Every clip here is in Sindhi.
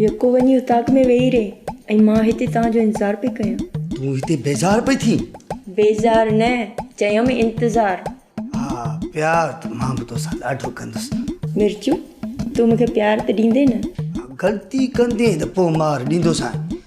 يڪو وڃي اتاق ۾ ويهي رهي ۽ مان هتي توهان جو انتظار پئي ڪيان. تون هتي بيزار پئي ٿين؟ بيزار نه، چيم انتظار. ها پيار ته مان به توسان ڏاڍو ڪندس. مرچو، تون مون کي پيار ته ڏيندين نه؟ ها غلطي ڪندين ته پوء مار ڏيندوسانء.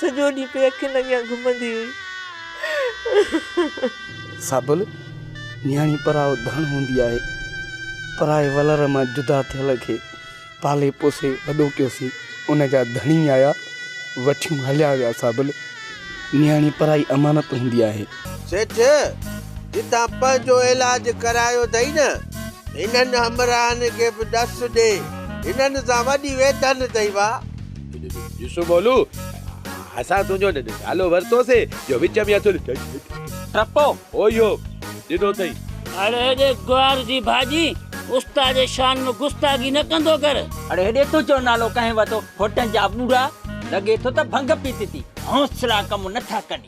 سڄو ڏينهن پئي اکين اڳيان گهمندي هئي. سابل، نياڻي پرائو ڌڻ هوندي آهي. پرائي ولر مان جدا ٿيل کي پالي پوسي وڏو ڪيوسين. ان جا ڌڻي آيا، وٺيون هليا ويا سابل، نياڻي پرائي امانت هوندي آهي. سيٺ، جتان پ جو علاج ڪرايو اٿئي نه، هنن همراهن کي به ڏس ڏي، هنن سان وڏي ويڌن اٿئي وا. ڏسو مولو، اسان تنهنجو نالو ورتوسي، جو وچ ۾ اٿل ٽپو هو اهو ڏنو اٿئي. اڙي هيڏي گوار جي ڀاڄي، استاد جي شان ۾ گستاخي نه ڪندو ڪر. اڙي هيڏي تنهنجو نالو ڪنهن ورتو، هوٽن جا ٻوڙا، لڳي ٿو ته ڀنگ پيتي ٿي. حوصلا ڪم نٿا ڪن.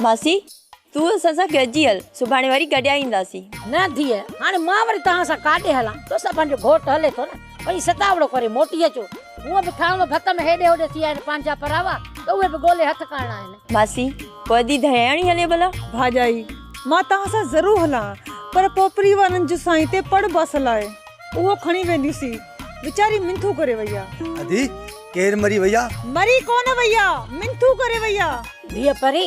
ماسي! تون اسان سان گڏجي هل، سڀاڻي وري گڏيا اينداسين. نه ڌيء، هاڻي مان وري توهان سان ڪاڏي هلان؟ توسان پنهنجو گهوٽ هلي ٿو نه، وڃي ستاوڙو ڪري موٽي اچو. هونء به ٿانو ڀت ۾ هيڏي هوڏي ٿي آهن، پنهنجا پراوا ته اهي به ڳولي هٿ ڪرڻا آهن. ماسي! پوء ادي ڌڻياڻي هلي ڀلا؟ ڀاڄائي! مان توهان سان ضرور هلان، پر پوء پريوارن جون سائين تي پڙ باسل آهي، اهو کڻي وينديون سي. ويچاري منٿون ڪري وئي آهي. ادي! ڪير مري وئي آ؟ مري ڪونه وئي آ، منٿون ڪري وئي آ. ڌيء پري،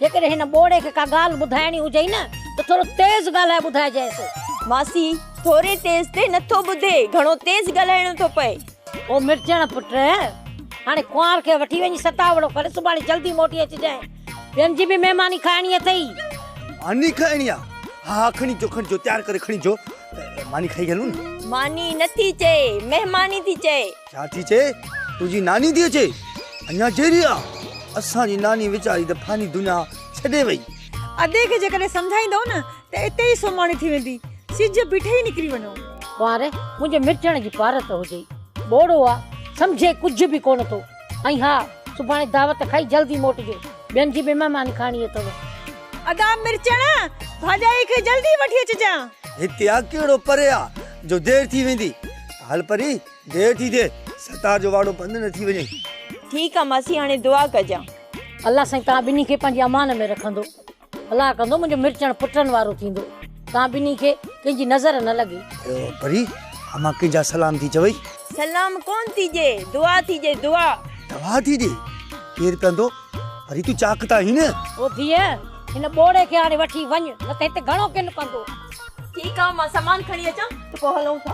جيڪڏهن هن ٻوڙي کي ڪا ڳالهه ٻڌائڻي هجئي نه ته ٿورو تيز ڳالهائي ٻڌائجئيس. ماسي، ٿوري تيز تي نٿو ٻڌي، گهڻو تيز ڳالهائڻو ٿو پئي. او مرچڻ پٽ، هاڻي ڪنوار کي وٺي وڃي ستاوڙو ڪر، سڀاڻي جلدي موٽي اچجانء، ٻين جي به مهماني کائڻي اٿئي. ماني کائڻي آ؟ ها ها، کڻي اچو، کڻي اچو، تيار ڪري کڻي اچو، ماني کائي هلون ها. ماني نٿي چئي، مهماني ٿي چئي. ڇا ٿي چئي؟ تنهنجي ناني ٿي اچي؟ اڃا جيئري آ؟ اسان جي ناني ويچاري ته فاني دنيا ڇڏي وئي. ادي کي جيڪڏهن سمجهائيندؤ نه ته اتي ئي سوماڻي ٿي ويندي. سج بيٺي ئي نڪري وڃو. ڪنوار، منهنجي مٽجڻ جي پارت هجئي. ٻوڙو آ، سمجهي ڪجهه به ڪونه ٿو. ۽ ها، سڀاڻي دعوت کائي جلدي موٽجو. ٻين جي به مهماني کائڻي اٿئو. ادا مرچڻ، ڀاڄائي کي جلدي وٺي اچجانء. هتي آ ڪهڙو پري آ جو دير ٿي ويندي. هل پري. دير ٿي ٿئي ستار جو واڙو بند نه ٿي وڃي. ٺيڪ آ ماسي هاڻي دعا ڪجان. الله سائين توهان ٻنهي کي پنهنجي امان ۾ رکندو الله ڪندو منهنجو مرچڻ پٽن وارو ٿيندو توهان ٻنهي کي ڪنهن جي نظر نه لڳي. پري امان ڪنهن جا سلام ٿي چوي. سلام ڪون ٿي جي دعا ٿي جي دعا. دعا ٿي جي ڪير ڪندو پري تون چاڪ ته آهين نه. او ڌيء هن ٻوڙي کي هاڻي وٺي وڃ نه ته هتي گهڻو ڪن پندو. ٺيڪ آ مان سامان کڻي اچان ته پوء هلون ٿا.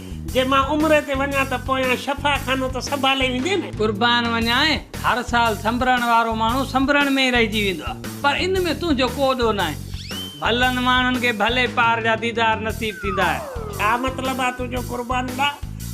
جي مان عمري تي وڃان ته پويان شفا خانو ته سنڀالي ويندي نه. قربان وڃانء، هر سال سنبرڻ وارو ماڻهو سنبرڻ ۾ ئي رهجي ويندو آهي، پر ان ۾ تنهنجو ڪو ڏوهه ناهي. ڀلن ماڻهن کي ڀلي پار جا ديدار نصيب ٿيندا آهن. ڇا مطلب آهي تنهنجو قربان ڏا،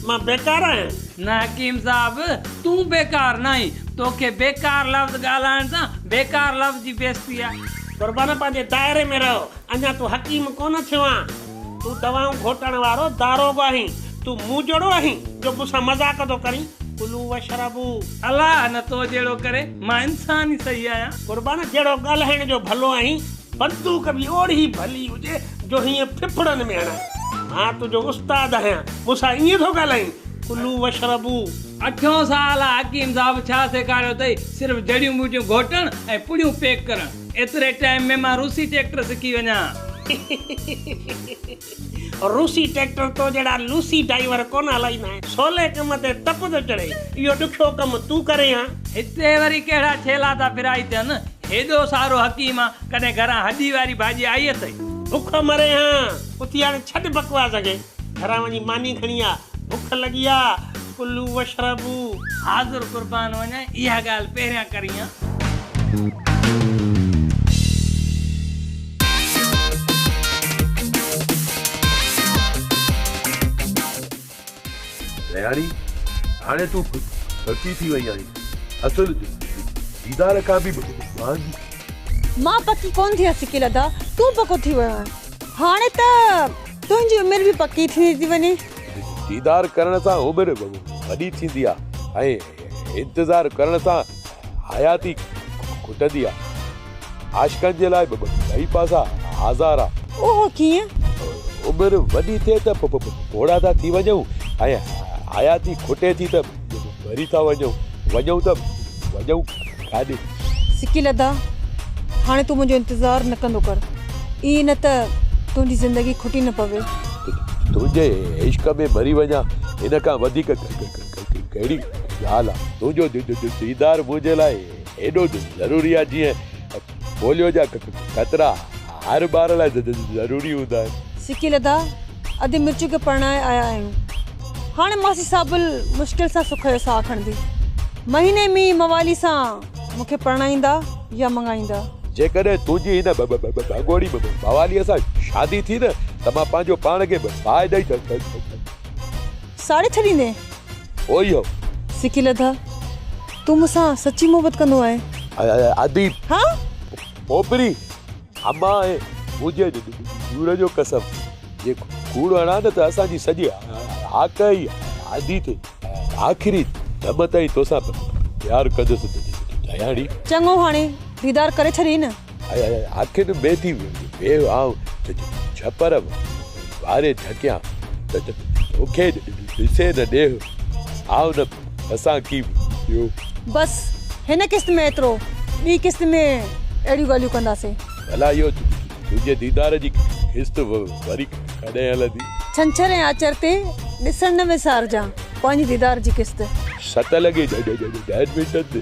مان بيڪار آهيان؟ نه حڪيم صاحب، تون بيڪار ناهين، توکي بيڪار لفظ ڳالهائڻ سان بيڪار لفظ جي بيستي آهي. قربان پنهنجي دائري ۾ رهه، اڃا تون حڪيم ڪونه ٿيو آهين. تون دوائون گهوٽڻ وارو داروغو آهين. تون مون جهڙو آهين جو مون سان مذاق ٿو ڪرين. ڪلو واشربو. الله نه تو جهڙو ڪري. مان انسان ئي صحيح آهيان. قربان جهڙو ڳالهائڻ جو ڀلو آهين. بندوق به اوڙي ڀلي هجي جو هيئن ڦڦڙن ۾ هڻان. مان تنهنجو استاد آهيان. مون سان ائين ٿو ڳالهائين. ڪلو واشربو. اٺيون سوال آهي حڪيم صاحب ڇا سيکاريو اٿئي؟ صرف جڙيون ٻوٽيون گهوٽڻ ۽ پڙيون پيڪ ڪرڻ. ايتري ٽائيم ۾ مان روسي ٽيڪٽر سکي وڃان. روسي ٽيڪٽر تو جهڙا لوسي ڊائيور ڪونه هلائيندا آهن. سولي ڪم تي تپ ٿو چڙهي. اهو ڏکيو ڪم تون ڪرين ها. هتي وري ڪهڙا ڇيلا ٿا ڦرائي ٿين. هيڏو سارو حڪيم ڪڏهن گهران هڏي واري ڀاڄي آئي اٿئي. بک مرين ها. اٿي هاڻي ڇڏ بڪواس کي. گهران وڃي ماني کڻي آ. بک لڳي آ. ڪلو واشربو. حاضر قربان وڃ اها ڳالهه پهريان ڪريان. رياڻي، هاڻي تون ڀتي ٿي وئي آهين. اصل ديدار کان به مهانگي. مان پڪي ڪونه ٿي آهيان سڪي لڌا. تون پڪو ٿي ويو آهين. هاڻي ته. تنهنجي عمر به پڪي ٿيندي ٿي وڃي. ديدار ڪرڻ سان عمر وڏي ٿيندي آ ۽ انتظار ڪرڻ سان حياتي کٽندي آ. عاشقن جي لاء ٻئي پاسا آزار آ. اهو ڪيئن؟ عمر وڏي ٿئي ته پوڙها ٿا ٿي وڃون ۽ حياتي کٽي ٿي ته ڀري ٿا وڃون وڃون ته وڃون ڪاڏي سڪي لدا هاڻي تون منهنجو انتظار نه ڪندو ڪر اي نه ته تنهنجي زندگي کٽي نه پوي تنهنجي عشق ۾ مري وڃا هن کان وڌيڪ ڪهڙي ڳالهه تنهنجو ديدار منهنجي لاء ايڏو ضروري آهي جيئن پوليو جا قطرا هر ٻار لاء ضروري هوندا آهن. سڪي لڌا، ادي مرچون کي پرڻائي آيا آهيون. هاڻي ماسي سابل مشڪل سان سک جو ساهه کڻندي. مهيني مينهن موالي سان مون کي پرڻائيندا يا مڱائيندا. جيڪڏهن تنهنجي هن ڀڳوڙي مواليء سان شادي ٿي نه ته مان پنهنجو پاڻ کي باهه ڏئي ڇڏيندس. ساڙي ڇڏيندين. اهو ئي هو. سکي لڌا. تون مون سان سچي محبت ڪندو آهين. اديب. ها. پوپري. امان ۽ منهنجي ڏور جو قسم. جي کوڙ هڻان نه ته اسان جي سڄي هاڪ ئي آڌي ٿئي. آخري دم تائين توسان پيار ڪندس دياڻي. چڱو هاڻي ديدار ڪري ڇڏين. آخر بي ٿي بي آء ڇپر واري ڍڪيان توکي ڏسي نه ڏيھ آء نه اسان ڪي ٻيو. بس هن قسط ۾ ايترو ٻي قسط ۾ اهڙيون ڳالهيون ڪنداسين. ڀلا اهو تنهنجي ديدار جي قسط وري ڪڏهن هلندي. ڇنڇر ۽ آچر تي ڏسڻ نه وسارجان پنهنجي ديدار جي قسط. ست لڳي ڏهن منٽن تي.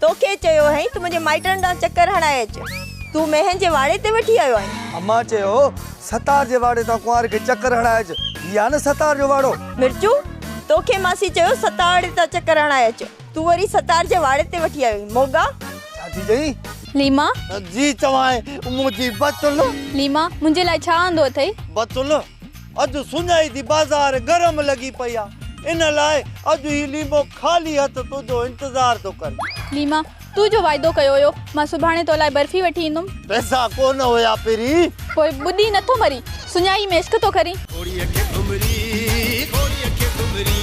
توکي چيو هئائين ته منهنجي مائٽن ڏانهن چڪر هڻائي اچ. تون مينهن جي واڙي تي وٺي آيو آهين. امان چيو هو ستار جي واڙي تان ڪنوار کي چڪر هڻائي اچ. هي آهي نه ستار جو واڙو. مرچو، توکي ماسي چيو ستاڙي تان چڪر هڻائي اچ. تون وري ستار جي واڙي تي وٺي آيو آهين. موڳا. ڇا ٿي چئين؟ ليما. جي چوانء منهنجي بتول. ليما، منهنجي لاء ڇا آندو اٿئي؟ بتول. اڄ سڃائي ٿي بازار گرم لڳي پئي آ ان لاء اڄ هي ليمو خالي هٿ تنهنجو انتظار ٿو ڪري. ليما، تون جو وعدو ڪيو هيو مان سڀاڻي تو لاء برفي وٺي ايندم. پئسا ڪونه هيا پرين. پوء ٻڏي نه ٿو مرين. سڃائي ۾ عشق ٿو ڪرين. گهوڙي کي گهمري گهوڙي کي گهمري.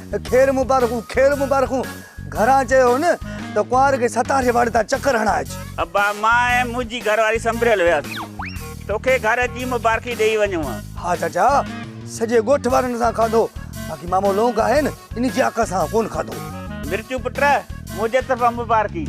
خير مبارڪون خير مبارڪون گهران چيو هن ته ڪنوار کي ستار جي واڙي تان چڪر هڻائي اچ. ابا مان ۽ منهنجي گهر واري سنبريل وياسين توکي گهر جي مبارڪي ڏيئي وڃون ها. ها چاچا سڄي ڳوٺ وارن اسان کاڌو باقي مامو لونڪ آهي نه ان جي آڪ سان ڪونه کاڌو. مرچون پٽ منهنجي طرفان مبارڪي.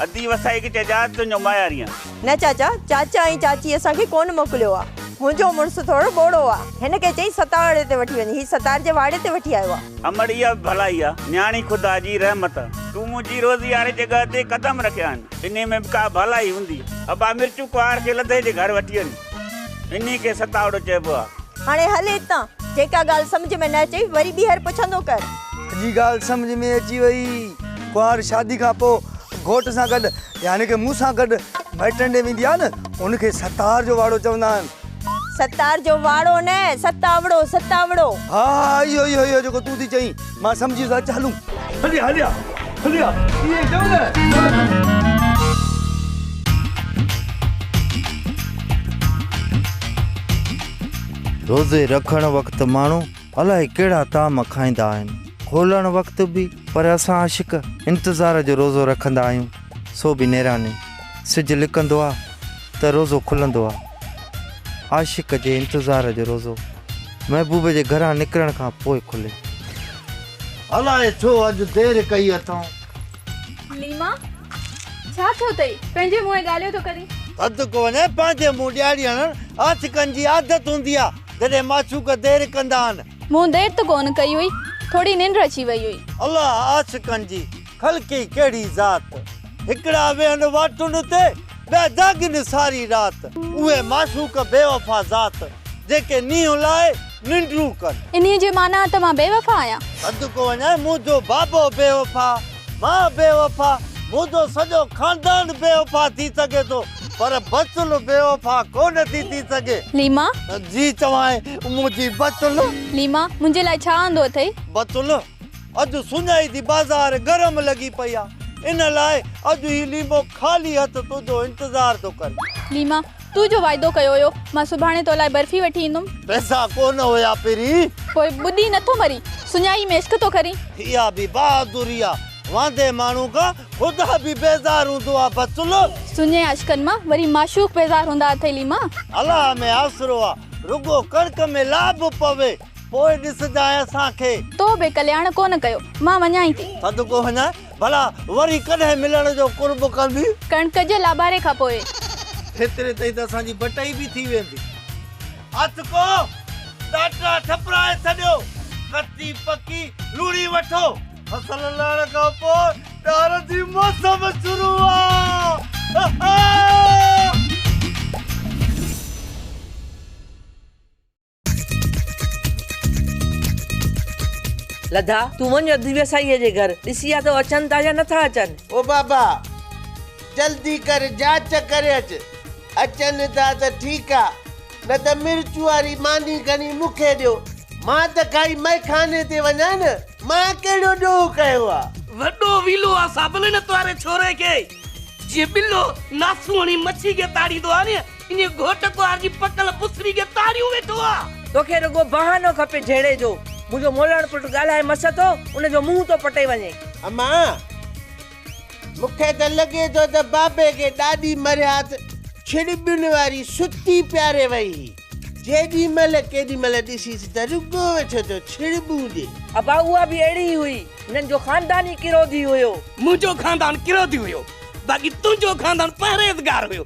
ادي وسائي کي چئجانس تنهنجو ماياريان. نه چاچا، چاچا ۽ چاچي اسان کي ڪونه موڪليو آ. منهنجو مڙس ٿورو ٻوڙو آ. هن ڪنهن چيس ستاڙي تي وٺي وڃ. هي ستار جي واڙي تي وٺي آيو آ. امڙ اها به ڀلائي آ نياڻي خدا جي رحمت آ تون منهنجي روزي واري جڳهه تي قدم رکيا آهن انهي ۾ به ڪا ڀلائي هوندي ابا مرچو ڪنوار کي لڌي جي گهر وٺي وڃ انهي کي ستاڙو چئبو آ. هاڻي هل هتان. جيڪا ڳالهه سمجهه ۾ نه اچئي وري ٻيهر پڇندو ڪر. سڄي ڳالهه سمجهه ۾ اچي وئي. ڪنوار شادي کان پوء گهوٽ سان گڏ يعني ڪه مون سان گڏ مائٽن ڏي ويندي آ نه ان کي ستار جو واڙو چوندا آهن. ستار جو واڙو نه ستاوڙو ستاوڙو. ها ها اهو ئي اهو جيڪو تون ٿي چئين مان سمجهي ويس اچ هلون. هليا هليا هليا ائين چئو نه. روزي رکڻ وقت ماڻهو الائي ڪهڙا طعام کائيندا آهن کولڻ وقت به. پر اسان عاشق انتظار جو روزو رکندا آهيون سو به نيراني سج لڪندو آ ته روزو کلندو آ عاشق جي انتظار جو روزو محبوب جي گهران نڪرڻ کان پوء کلي. الاء ڇو اڄ دير ڪئي اٿئون. ليما ڇا ٿيو اٿئي پنهنجي منهن ڳالهيو ٿو ڪرين. حد ڪو نه پنهنجي منهن ڏياري هڻڻ عاشقن جي عادت هوندي آ جڏهن معشوق دير ڪندا آهن. مون دير ته ڪونه ڪئي هئي. ٿوري ننڊ اچي وئي هئي. الله عاشقن جي خلقي ڪهڙي ذات. هڪڙا ويهن واٽن تي ٻيا جاڳن ساري رات. اهي معشوق بي وفا ذات جيڪي نينهن لاء ننڊون ڪن. انهيء جي معنيٰ ته مان بي وفا آهيان. سڏ ڪو وڃائي منهنجو بابو بي وفا. مان بي وفا، منهنجو سڄو خاندان بي وفا ٿي سگهي ٿو پر بچل بي وفا ڪونه ٿي ٿي سگهي. ليما. جي چوانء منهنجي بچل. ليما. منهنجي لاء ڇا آندو اٿئي؟ بچل. اڄ سڃائي ٿي بازار گرم لڳي پئي آهي ان لاء اڄ هي ليمو خالي هٿ تنهنجو انتظار ٿو ڪري. ليما. تو جو وعدو ڪيو هيو. مان سڀاڻي تو لاء برفي وٺي ايندم. پئسا ڪو نه هيا پرين. پوء ٻڏي نه ٿو مرين. سڃائي ۾ عشق ٿو ڪرين. اها به بهادري آ. واندي ماڻهو کان خدا به بيزار هوندو آ بتل. سڃي عاشقن مان وري معشوق بيزار هوندا اٿئي ليما. الله ۾ آسرو آ. رڳو ڪڻڪ ۾ لا به پوي. پوء ڏسجانء اسان کي. تو به ڪلياڻ ڪو نه ڪيو. مان وڃانئي ٿي. سڏ ڪو هڃاء. ڀلا وري ڪڏهن ملڻ جو قرب ڪندي. ڪڻڪ جي لاباري کان پوء. هيتري تائين ته اسان جي بٽئي به ٿي ويندي. هٿ ڪو ٽاٽا ٺپرائي ڇڏيو. ڪچي پڪي لوڻي وٺو. فصل لهڻ کان پوء ڏار جي موسم شروع آ. لڌا، تون وڃ اڌ ويساهيء جي گهر، ڏسي آ ته اچن ٿا يا نٿا اچن. او بابا! جلدي ڪر جاچ ڪري اچ، اچن ٿا ته ٺيڪ آ، نه ته مرچ واري ماني کڻي مون کي ڏيو، مان ته کائي مئخاني تي وڃان نه، مان ڪهڙو ڏوهه ڪيو آ. وڏو ويلو آ ساڀلي نت واري ڇوري کي، جيئن ٻلو ناسوڻي مڇي کي تاڙيندو آ ني، انهيء گهوٽ گهوار جي پڪل بسري کي تاڙيون ويٺو آ. توکي رڳو بهانو کپي جهيڙي جو. منهنجو مولڻ پٽ ڳالهائي مس ٿو، ان جو منهن ٿو پٽي وڃي. اما! مون کي ته لڳي ٿو ته بابي کي ڏاڏي مرهيات ڇڙٻين واري ستي پياري وئي هئي. جيڏي مهل ڪيڏي مهل ڏسيس ته رڳو ويٺو ٿو ڇڙٻون ڏي. ابا اها به اهڙي ئي هئي. هنن جو خاندان ئي ڪروڌي هيو. منهنجو خاندان ڪروڌي هيو، باقي تنهنجو خاندان پرهيزگار هيو.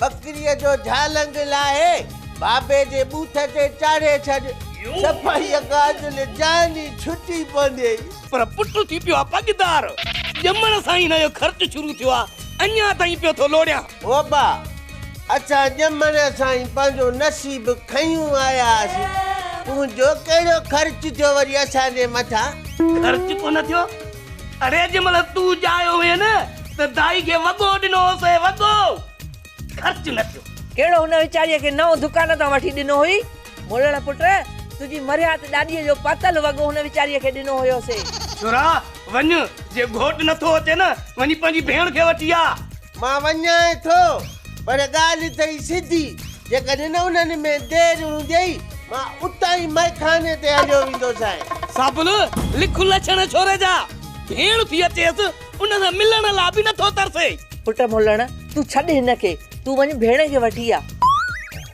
ٻڪريء جو جهالنگ لاهي بابي جي بوٿ تي چاڙهي ڇڏ. صفائيء کان اڳ نه جان ئي ڇٽي پونديئي. پر پٽ ٿي پيو آ پڳدار. ڄمڻ سان ئي هن جو خرچ شروع ٿيو آ. اڃا تائين پيو ٿو لوڙيان. هوبا! اسان ڄمڻ سان ئي پنهنجو نصيب کنيون آيا هئاسين. تنهنجو ڪهڙو خرچ ٿيو وري اسان جي مٿان؟ خرچ ڪونه ٿيو. اڙي جنهن مهل تون ڄايو هئين نه ته دائي کي وڳو ڏنو هوسين وڳو. خرچ نه ٿيو. ڪهڙو هن ويچاريء کي نئون دڪان تان وٺي ڏنو هئي. مولڻ پٽ تنهنجي مرهيات ڏاڏيء جو پاتل وڳو هن ويچاريء کي ڏنو هيوسين. ڇورا وڃ جي گهوٽ نه ٿو اچي نه وڃي پنهنجي ڀيڻ کي وٺي آ. مان وڃائين ٿو، پر ڳالهه اٿئي سڌي، جيڪڏهن انهن ۾ دير هونديئي، مان اتان ئي مئخاني تي هليو ويندوسانء. سابل، لک لڇڻ ڇوري جا، ڀيڻ ٿي اچيس، ان سان ملڻ لا به نٿو ترسي. پٽ ملڻ، تون ڇڏ هن کي، تون وڃ ڀيڻ کي وٺي آ.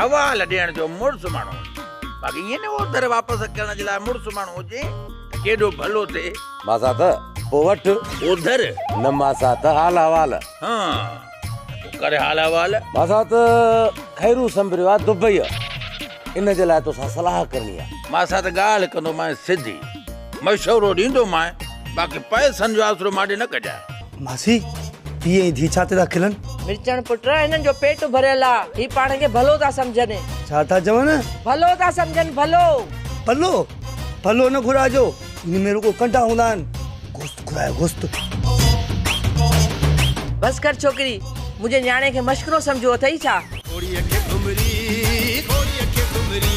حوال ڏيڻ جو مڙس ماڻهو هجي باقي ائين نه اوڌر واپس ڪرڻ جي لاء مڙس ماڻهو هجي ته ڪيڏو ڀلو ٿئي. ماسا ته پوء وٺ. اوڌر. نه ماسا ته حال حوال. ها پوء ڪر حال حوال. ماسا ته خيرو سنبريو آ دبئيء ان جي لاء توسان صلاح ڪرڻي آ. ماسا ته ڳالهه ڪندومانء سڌي مشورو ڏيندومانء باقي پئسن جو آسرو مانڏي نه ڪجانء. ماسي پيء جي ڌيء ڇا تي ٿا کلن؟ مرچڻ پٽ هنن جو پيٽ ڀريل آ هي پاڻ کي ڀلو ٿا سمجهن. ڇا ٿا چون؟ ڀلو ٿا سمجهن ڀلو. ڀلو؟ ڀلو نه گهرائجو ان ۾ رڳو ڪنڊا هوندا آهن. گوشت گهرايو گوشت. بس ڪر ڇوڪري منهنجي نياڻي کي مشڪرو سمجهو اٿئي ڇا؟ گهوڙي کي گهمري گهوڙي کي گهمري.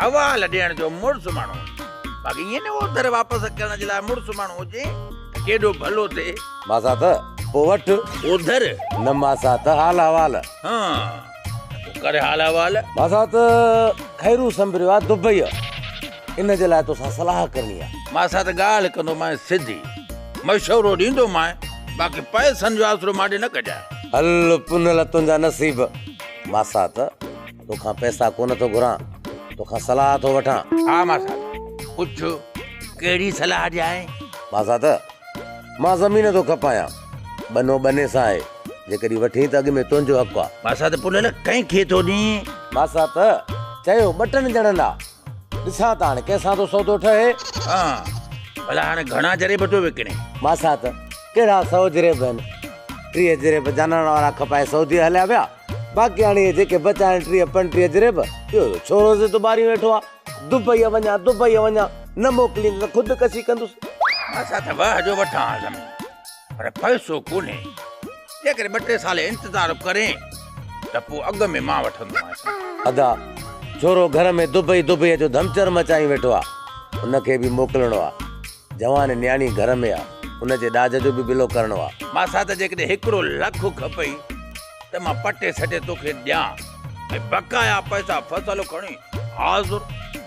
حوال ڏيڻ جو مڙس ماڻهو هجي باقي ائين نه اوڌر واپس اڪرڻ جي لاء مڙس ماڻهو هجي ته ڪيڏو ڀلو ٿئي. ماسات پوء وٺ. اوڌر. نه ماسات حال حوال. ها ته پوء ڪر حال حوال. ماسات خيرو سنبريو آهي دبئيء ان جي لاء توسان صلاح ڪرڻي آهي. ماسات ڳالهه ڪندومانء سڌي مشورو ڏيندومانء باقي پئسن جو آسرو مان ڏي نه ڪجانء. هل پنهل تنهنجا نصيب ماسات. توکان پئسا ڪونه ٿو گهران، توکان صلاح ٿو وٺان. ها ماسات، پڇ ڪهڙي صلاح ڏيانء؟ ماسات، مان زمين ٿو کپايان، ٻنو ٻني سان آهي، جيڪڏهن وٺين ته اڳ ۾ تنهنجو حق آ. ماسات، پوء لعل ڪنهن کي ٿو ڏين؟ ماسات، چيو ٻه ٽن ڄڻن آ، ڏسان ته هاڻي ڪنهن سان ٿو سودو ٺهي. ها، ڀلا هاڻي گهڻا جريب ٿو وڪڻين؟ ماسات، ڪهڙا سؤ جريب آهن، ٽيهه جريب جانڻ وارا کپائي سعوديء هليا ويا. باقي هاڻي جيڪي بچا آهن ٽيهه پنٽيهه جريب، اهو ڇورو زد و ٻاريون ويٺو آ، دبئيء وڃان دبئيء وڃان، نه موڪليندس ته خود ڪشي ڪندس. اسان ته واهه جو وٺان ها زمين، پر پئسو ڪونهي، جيڪڏهن ٻه ٽي سال انتظار به ڪرين ته پوء اڳ ۾ مان وٺندومانس. ادا، ڇورو گهر ۾ دبئي دبئيء جو ڌمچر مچائي ويٺو آ، ان کي به موڪلڻو آ. جوان نياڻي گهر ۾ آ. ان جي ڏاج جو به بلو ڪرڻو آ. ماسا ته جيڪڏهن هڪڙو لک کپئي ته مان پٽي سٽي توکي ڏيان ۽ بقايا پئسا فصل کڻي حاضر.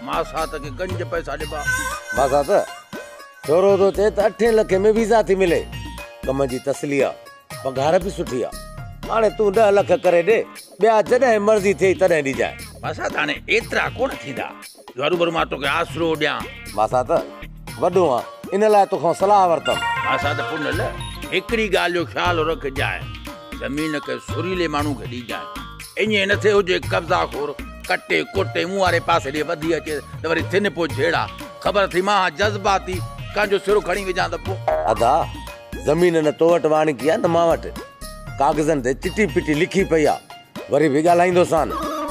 ماسا ته کي گنج پئسا ڏبا. ماسا ته ڇورو ٿو چئي ته اٺين لکين ۾ ويزا ٿي ملي. ڪم جي تسلي آ. پگهار به سٺي آ. هاڻي تون ڏهه لک ڪري ڏي. ٻيا جڏهن مرضي ٿئي تڏهن ڏجانء. ماسا ته هاڻي ايترا ڪونه ٿيندا. هرو ڀرو مان توکي آسرو ڏيان. مان سان ته وڏو آن ان لاء توکان صلاح ورتم. مان سان ته پنهل هڪڙي ڳالهه جو خيال رکجانء، زمين ڪنهن سريلي ماڻهو کي ڏيجانء. ائين نه ٿئي هجي قبضا خور ڪٽي ڪوٽي مون واري پاسي ڏي وڌي اچي ته وري ٿين پوء جهيڙا. خبر اٿئي مان هان جذباتي ڪنهن جو سرو کڻي وجهان ته پوء. ادا، زمين نه تو وٽ واڻڪي آ نه مان وٽ. ڪاغذن تي چٽي پٽي لکي پئي آ وري به ڳالهائيندوسان.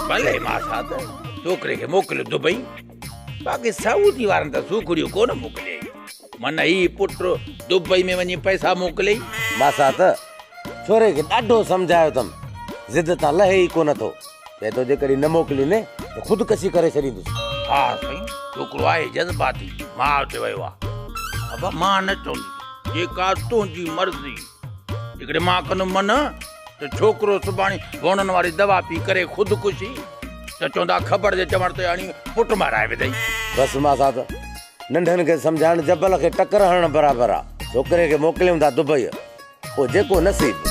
ڀلي ماسات، ڇوڪري کي موڪليو دبئي، باقي سعودي وارن ته سوکڙيون ڪونه موڪليائين. من هي پٽ دبئي ۾ وڃي پئسا موڪليئي. ماسات، ڇوري کي ڏاڍو سمجهايو اٿم، ضد تان لهي ئي ڪونه ٿو. چئي ٿو جيڪڏهن نه موڪليندين ته خودڪشي ڪري ڇڏيندس. ها سائين، ڇوڪرو آهي جذباتي، ماء تي ويو آهي. ابا مان نه چونديس، جيڪا تنهنجي مرضي. جيڪڏهن مان ڪندم منع ته ڇوڪرو سڀاڻي هونئن واري دوا پي ڪري خودڪشي ته چوندا کبڙ جي چوڻ تي اڻي پٽ مارائي وڌئي. بس ماسا ته ننڍن کي سمجهائڻ جبل کي ٽڪر هڻڻ برابر آ. ڇوڪري کي موڪليون ٿا دبئيء پوء جيڪو نصيب.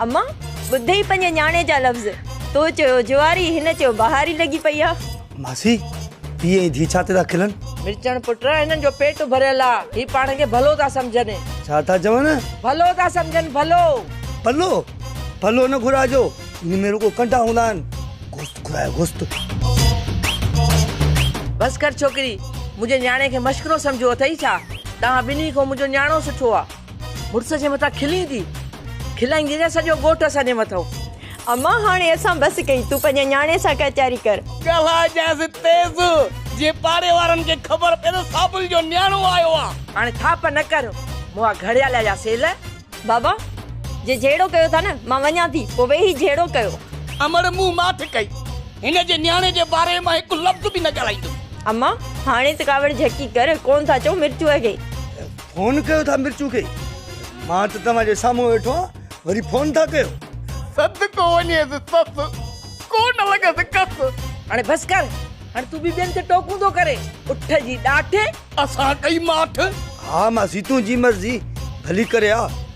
اما! ٻڌئي پنهنجي نياڻي جا لفظ، تو چيو جواري، هن چيو بهاري لڳي پئي آ. ماسي! پيء ۽ ڌيء ڇا تي ٿا کلن؟ مرچڻ پٽ، هنن جو پيٽ ڀريل آ، هي پاڻ کي ڀلو ٿا سمجهن. ڇا ٿا چون؟ ڀلو ٿا سمجهن، ڀلو. ڀلو! ڀلو نه گهرائجو، ان ۾ رڳو ڪنڊا هوندا آهن. گوشت گهرايو، گوشت. بس ڪر ڇوڪري، منهنجي نياڻي کي مشڪرو سمجهيو اٿئي ڇا؟ توهان ٻنهي کان منهنجو نياڻو سٺو آ. مڙس جي مٿان کلين ٿي کلائيندي نه سڄو ڳوٺ اسان جي مٿو. امان هاڻي اسان بس ڪئي تون پنهنجي نياڻي سان ڪچهري ڪر. ڳالهاء جانئس تيز جيئن پاڙي وارن کي خبر پئي ته صابل جو نياڻو آيو آ. هاڻي ٿاپ نه ڪر مون آ گهڙيالي جا سيل. بابا جي جهيڙو ڪيو ٿا نه مان وڃان ٿي پوء ويهي جهيڙو ڪيو. امڙ مون ماٺ ڪئي هن جي نياڻي جي باري مان هڪ لفظ به نه ڳالهائيندس. امان هاڻي ته ڪاوڙ جهڪي ڪر ڪون ٿا چئون مرچوء کي. فون ڪيو ٿا مرچو کي مان ته توهان جي سامهون ويٺو آهيان وري فون ٿا ڪيو. صدقو وڃيس سس ڪونه لڳس ڪس. هاڻي بس ڪر هاڻي تون به ٻين تي ٽوڪون ٿو ڪرين اٺ جي ڏاٺ. اسان ڪئي ماٺ. ها ماسي تنهنجي مرضي ڀلي ڪري آ.